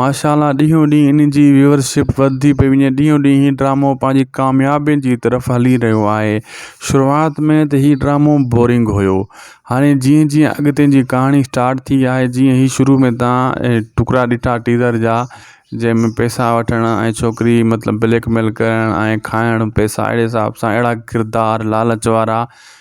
ماشا الله ڏينهون ڏينهن ان جي ويورشپ وڌندي پئي وڃي ڏينهون ڏينهن هي ڊرامو پنهنجي ڪاميابين جي طرف هلي رهيو آهي شروعات ۾ ته هي ڊرامو بورنگ هيو هاڻي جيئن جيئن اڳتي جي ڪهاڻي اسٽارٽ ٿي آهي جيئن هي شروع ۾ تان ٽڪرا ڏٺا ٽيزر جا جنهن ۾ پيسا وٺڻ ۽ ڇوڪري مطلب بليڪ ميل ڪرڻ ۽ کائڻ پيسا اهڙي حساب سان اهڙا ڪردار لالچ وارا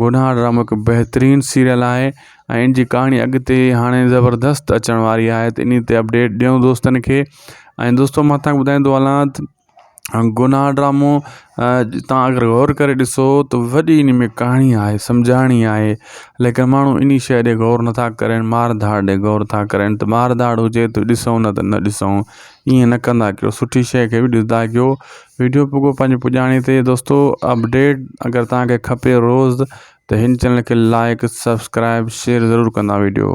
گناھ ڊرامو هڪ بهترين سيريل آهي ۽ ان جي ڪهاڻي اڳتي هاڻي زبردست اچڻ واري آهي ته اني تي اپڊيٽ ڏيون دوستن کي ۽ دوستو مان تان ٻڌائيندو هلان گناھ ڊرامو تان اگر غور ڪري ڏسو ته وڏي ان ۾ ڪهاڻي آهي سمجهاڻي آهي ليڪن ماڻهو اني شئي ڏي غور نٿا ڪرين مار ڌاڙ ڏي غور ٿا ڪرين ته مار ڌاڙ هجي ته ڏسون نه ته نه ڏسون ائين نه ڪندا ڪيو سٺي شئي کي به ڏسندا ڪيو ويڊيو پوڳو پنهنجي پڄاڻي تي دوستو اپڊيٽ اگر توهان کي کپي روز ته هن چينل کي لائيڪ سبسڪرائيب شيئر ضرور ڪندا ويڊيو